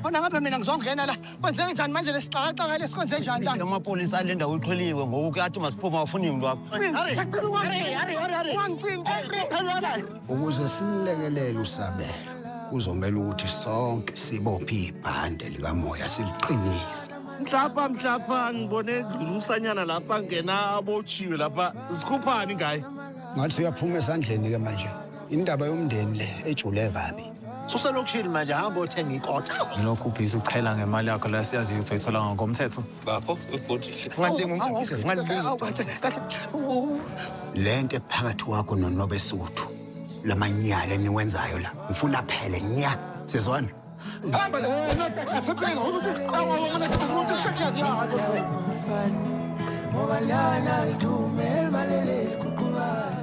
Khona ngabe mina ngizongena la. Kwenzeke njani manje lesixakaxaka lesi kwenze njani la? Amapolisa ale ndawo iqheliwe ngoku kuyathi masiphume awufuni muntu wakho. Ukuze simlekelele uSabelo kuzomela ukuthi sonke sibophe ibhande likamoya siliqinise. Mhlapha mhlapha ngibone edlula umsanyana lapha ngena abotshiwe lapha zikhuphani ngaye. Ngathi uyaphuma esandleni-ke manje. Indaba yomndeni le ejule kabi. Suselokishini manje hamba othenga ikota. Lokhu ubhizi uqhela ngemali yakho la siyaziyo ukuthi uyithola ngokomthetho. Bafo ubhuti. Le nto ephakathi kwakho nonobesuthu lamanyala eniwenzayo la ngifuna phele nya sizwana hamba la asebhenga ukuthi qhawa wona ukuthi sekuyadlala ngoba lana lithumela maleleli kuqhubana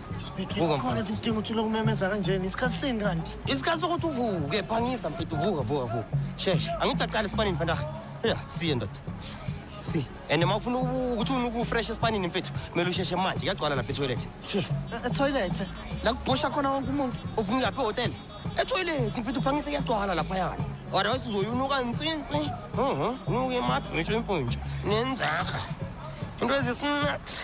Speaking Vuka, khona mfana. sidinga uthula ukumemeza kanjena isikhathi sini kanti isikhathi sokuthi uvuke phangisa mfethu vuka vuka vuka shesha angithi aqale esipanini mfantaha ya siye ndoda si and uma ufuna uku- ukuthi ufuna ukufresh esipanini mfethu kumele usheshe manje kuyagcwala lapha etoilet Eh, etoilet la kubhosha khona wonke umuntu ufuna uyaphi ehhotela etoilet mfethu uphangise kuyagcwala laphayana otherwise uzoyunuka nsinsi unuke imakhi ngisho impuntsha nenzaha into ezisinaks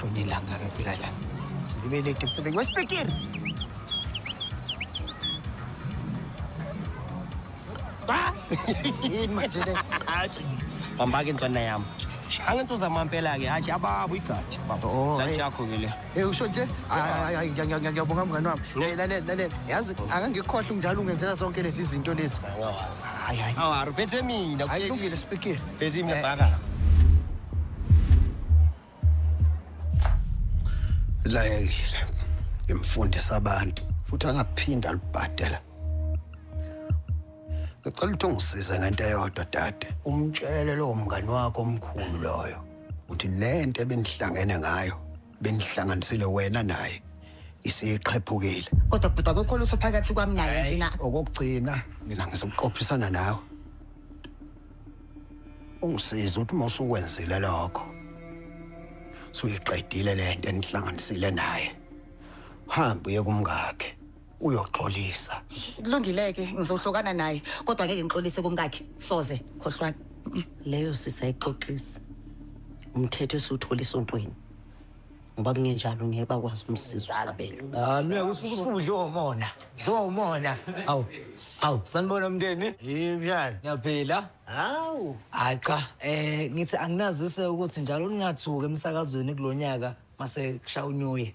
Shoni ilanga ke fika la. Silibele ke msebenzi wesipikiri. Ba! Yini manje le? Hayi. Hamba ke ntwana yami. Shanga into zamampela ke, hayi ababo igathi. Baba, oh, Lati hey. yakho ke le. Hey usho nje hayi ngiyabonga ngiyabonga mngani wami. Hey lalela lalela yazi akangikhohle umdala ungenzela zonke lezi zinto lezi. Hayi hayi. Awari phethe mina Hayi kutheni? kulungile sibhekile. Phethe mina bhaka. layekile ngimfundisa abantu futhi angaphinda alubhadela ngicela ukuthi ungisize ngento eyodwa dade umtshele lowo mngani wakho omkhulu loyo uthi le nto ebenihlangene ngayo benihlanganisile wena naye isiqhephukile kodwa bhuti akukho lutho phakathi kwami naye mina okokugcina mina ngizokuqophisana nawe ungisiza ukuthi uma usukwenzile lokho suyiqedile le nto enihlanganisile naye hambe uye kumngakhe uyoxolisa kulungileke ngizohlukana naye kodwa ngeke ngixolise kumkakhe soze khohlwana leyo sisa ixoxisa umthetho esiwuthola esontweni ngoba kungenjalo ngeke bakwazi umsiza usabelo ami akusuke usuke udliwe umona udliwe umona awu awu sanibona mndeni yimjani ngiyaphila hawu hayi cha um ngithi anginazise ukuthi njalo ningathuki emsakazweni kulo nyaka mase kushaya unyuye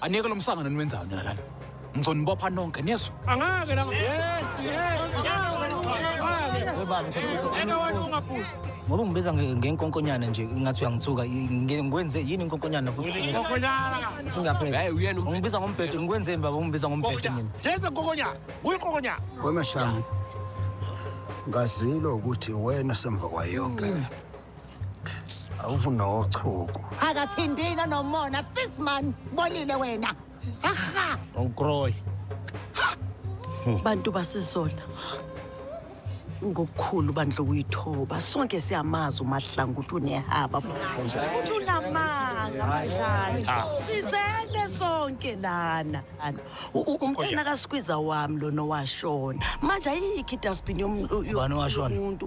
Aniyeke lo msangano niwenzayo nina lana. Ngizonibopha nonke niyezwa. Angake la. Ngoba ngibiza ngenkonkonyana nje ngathi uyangithuka ngikwenze yini inkonkonyana futhi. Singaphela. Hayi uyena ungibiza ngombhedo ngikwenzeni baba ungibiza ngombhedo mina. Yenza inkonkonyana. Uyinkonkonyana. Wemashanga. Ngazilo ukuthi wena semva kwayonke. awuvunochuku akathindina nomona sis man bonile wena aha awukroyi bantu basezola ngokukhulu bandla ukuyithoba sonke siyamazi umahlanga ukuthi unehaba futhi unamanga badlali sizele sonke lana U- u- umntana kasikwiza wami lona washona manje ayikho idustbin Ubani owashona? yomuntu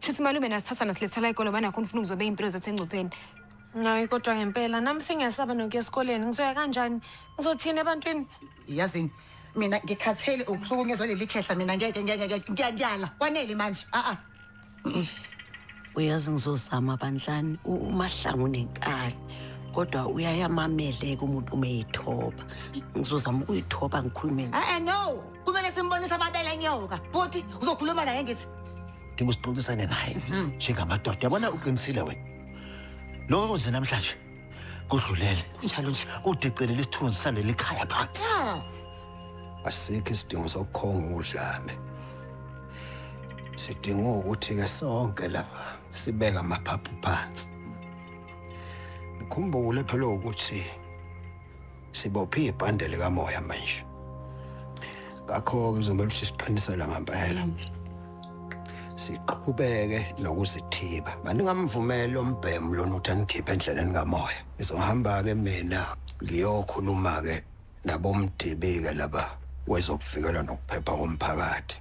Shuthi malume nasithatha nasilethela ikolo banakho nifuna ukuzobe impilo zethu engcupheni. Ngayi kodwa ngempela nami sengiyasaba nokuya esikoleni ngizoya kanjani ngizothini ebantwini yazini mina ngikhathele ukuhlukunyezwa leli khehla mina ngeke ngeke ngeke ngiyala kwanele manje a a uyazi ngizozama bandlani umahlangu nenkani kodwa uyayamameleka umuntu uma eyithoba ngizozama ukuyithoba ngikhulume a no kumele simbonise ababele nyoka futhi uzokhuluma naye ngithi udinga usixoxisane naye mhm. njengamadoda yabona uqinisile wena lokho kwenze namhlanje kudlulele kunjalo nje udicelela isithunzi saleli khaya phansi asikho isidingo sokukhonga udlame sidinga ukuthi ke sonke lapha sibeka amaphaphu phansi nikhumbule phela ukuthi Sibophe ibhande likamoya manje. Ngakho-ke kuzomele ukuthi siqinisele ngempela. Siqhubeke nokuzithiba. Maningamvumeli ombhemu lona ukuthi anikhiphe endleleni kamoya. Ngizohamba-ke mina ngiyokhuluma-ke nabomdibike laba wezokuvikela nokuphepha komphakathi.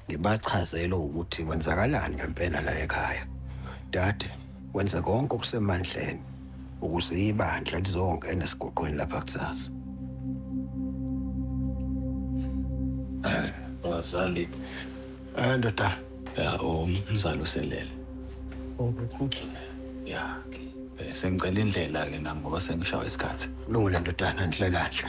Ngibachazele ukuthi kwenzakalani ngempela la ekhaya. Dade, wenze konke okusemandleni ukuze ibandla lizongena esiguqweni lapha kusasa. Bazali. Eh ndoda, Ya, umzali uselele. Ya, ke. Eh, Sengicela indlela-ke nami ngoba sengishawa isikhathi. lungile ndodana ndlela nhle.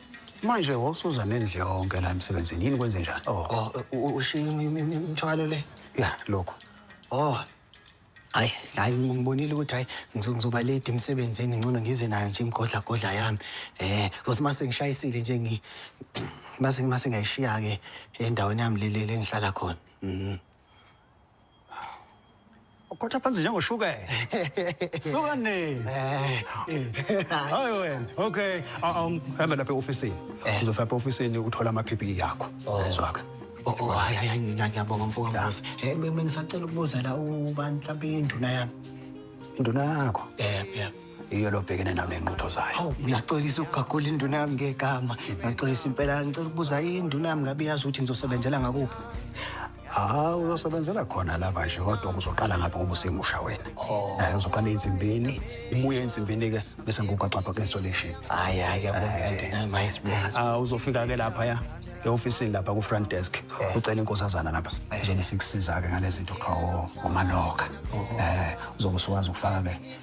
Manje wosuza nendle yonke la emsebenzini yini kwenze njani? Oh, oh u- ushiye imi- imi- imi- imithwalo le. ya lokho. Oh. Hayi, hayi ngibonile ukuthi hayi ngizo- ngizoba late emsebenzini ngcono ngize nayo nje imigodla godla yami. Eh, ngokuthi mase ngishayisile nje ngi mase mase ngayishiya ke endaweni yami leli lengihlala khona. Mhm. Ukhotha phansi njengoshukela. Suka nini? Hayi wena. Okay. Awuhambe lapha eofisini. Uzofika lapha eofisini uthola ama PPE yakho. Ezwaka. Oh, oh, hayi hayi ngiyabonga mfoka Mbuzi. Eh mina ngisacela ukubuza la ubani mhlawumbe induna yami. Induna yakho? Eh, yeah. Iyo lobhekene nayo nenqutho zayo. Hawu ngiyaxolisa ukugagula induna yami ngegama. Ngiyaxolisa impela ngicela ukubuza induna yami ngabe yazi ukuthi ngizosebenzela ngakuphi. Ah, uzosebenzela khona lapha nje kodwa uzoqala ngapha ngoba usemusha wena. Oh. Eh uzoqala ensimbini, umuye ensimbini ke bese ngikugaxa pha installation. Hayi hayi yabona mayisibona. Ah uzofika ke lapha ya eofisini lapha ku front desk eh. ucela inkosazana lapha eh. izona sikusiza ke ngalezinto kuthiwa ngomaloka. Oh. Eh uzobe usuwazi ukufaka ke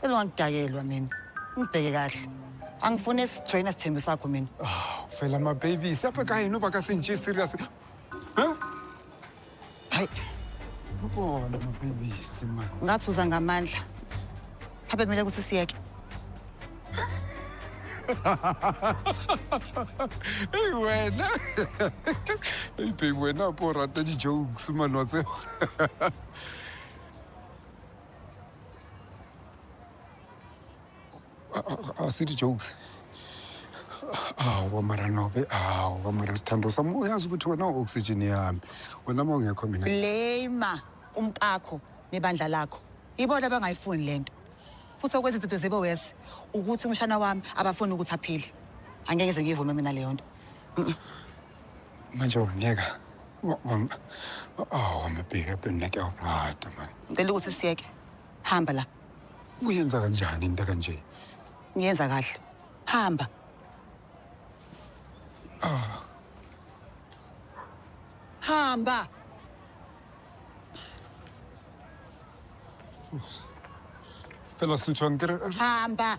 Cela ungangidakelwa mina. Ngibheke kahle. Angifuni esijoyina sithembe sakho mina. Oh, phela ma baby, siyapha kayi noba ka sinje serious. Huh? Hayi. Ubona ma baby sima. Ngathi uza ngamandla. Habe kumele ukuthi siyeke. Hey wena. Hey baby wena porata di jokes manwa tseo. asithi jokes awu mara nobe awu mara sithando sami uyazi ukuthi wena u-oxygen yami wena uma ungekho mina blame umkakho nebandla lakho ibona abangayifuni le nto futhi okwenza izinto zibe wesi ukuthi umshana wami abafuni ukuthi aphile angeke ze ngiyivume mina leyo nto manje wangiyeka awu amabheki abhemna kuyawuqada mani ngicela ukuthi siyeke hamba la uyenza kanjani into kanje ngiyenza kahle hamba ah. hamba Pela sentient. Hamba.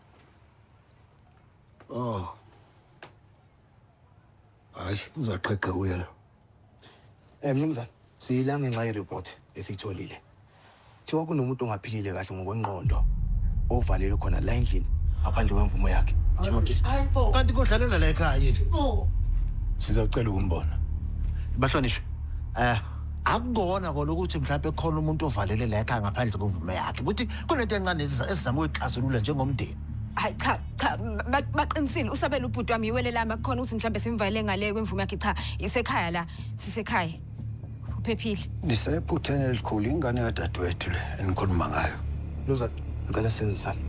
Oh. Hayi, uzaqheqhe uye la. Eh mnumzane, siyila ngenxa yereport esiyitholile. Thiwa kunomuntu ongaphilile kahle ngokwenqondo ovalelwe khona la endlini ngaphandle kwemvumo yakhe. Kanti kodlalela la ekhaya yini? Sizocela ukumbona. Bahlonishwe. Eh akukona kona ukuthi mhlawumbe khona umuntu ovalele la ekhaya ngaphandle kwemvumo yakhe. Ukuthi kunento encane eziza- esizama ukuyixazulula njengomndeni hayi cha cha ba- baqinisile usabela ubhuti wami iwele lami akukhona ukuthi mhlawumbe simvalele ngale kwemvume yakhe cha isekhaya la sisekhaya uphephile nisephutheni elikhulu ingane kadadewethu le enikhuluma ngayo Mnumzane, ngicela size sami.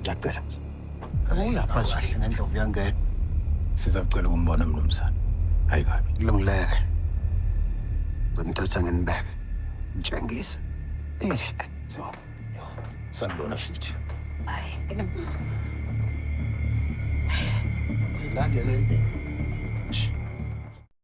Ngiyacela. Uyapha nje. Kahle ngendlovu yangena. Sizacela ukumbona mnumzane. Hayi kabi. Kulungileke. Ngimthatha nginibeke. Ngitshengise. Eish. So. Sanibona futhi. Lande le.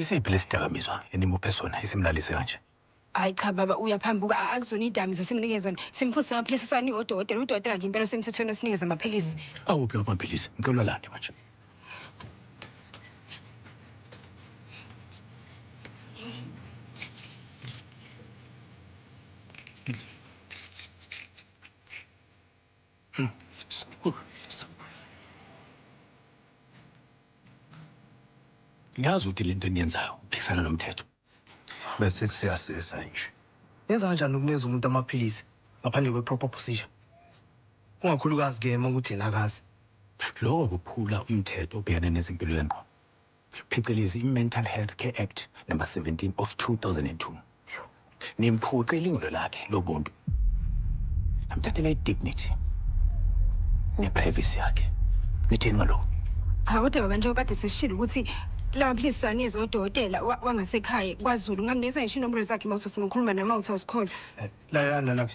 Isiphi lesidakamizwa enimuphe sona esimlalise kanje? Hayi cha baba uyaphambuka akuzona iyidakamizwa esimnike zona simphuzise amaphilisi esawanikwa udokotela udokotela nje impela osemthethweni osinikeza amaphilisi. Awuphi lawo maphilisi ngicela uwalande manje. Ngiyazi ukuthi lento eniyenzayo iphikisana nomthetho. Bese kusiyasiza nje. Nenza kanjani ukunikeza umuntu amaphilisi ngaphandle kwe proper procedure? Ungakhulukazi ke makuthi yena akazi. Loko kuphula umthetho obhekene nezempilo yengqondo. phecelezi iMental Health Care Act Number 17 of 2002. Nimphuce ilungelo lakhe lobuntu, namthathela idignity neprivacy yakhe. Nithini ngalokhu? Cha kodwa baba njengoba kade sesishilo ukuthi lamaphilisi siwanikeza odokotela wa- wangasekhaya kwaZulu. Ngingakunikeza ngisho inombolo zakhe mawuthi ufuna ukukhuluma naye mawuthi awuzikholwa. Lalelani lana-ke.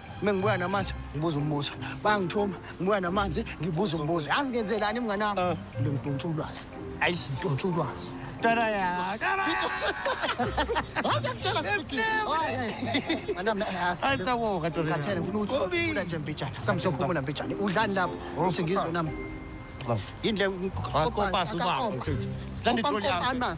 Mina ngibuya namanzi ngibuza umbuzo. Bangithuma ngibuya namanzi ngibuza umbuzo. Yazi ngenzelani mngane wami? Ah. Ngidonsa ulwazi. Ayi ngidonsa ulwazi. Tara ya. Tara. Hayi ngitshela sisi. Hayi. Manami ayasa. Hayi tawo kaTora. Kathele ngifuna ukuthi uphula nje mbijana. Samsophumula mbijana. Udlani lapho? Oh, Uthi ngizwe nami. Yini le? Kopasa ubaba. Silanda itroli yami.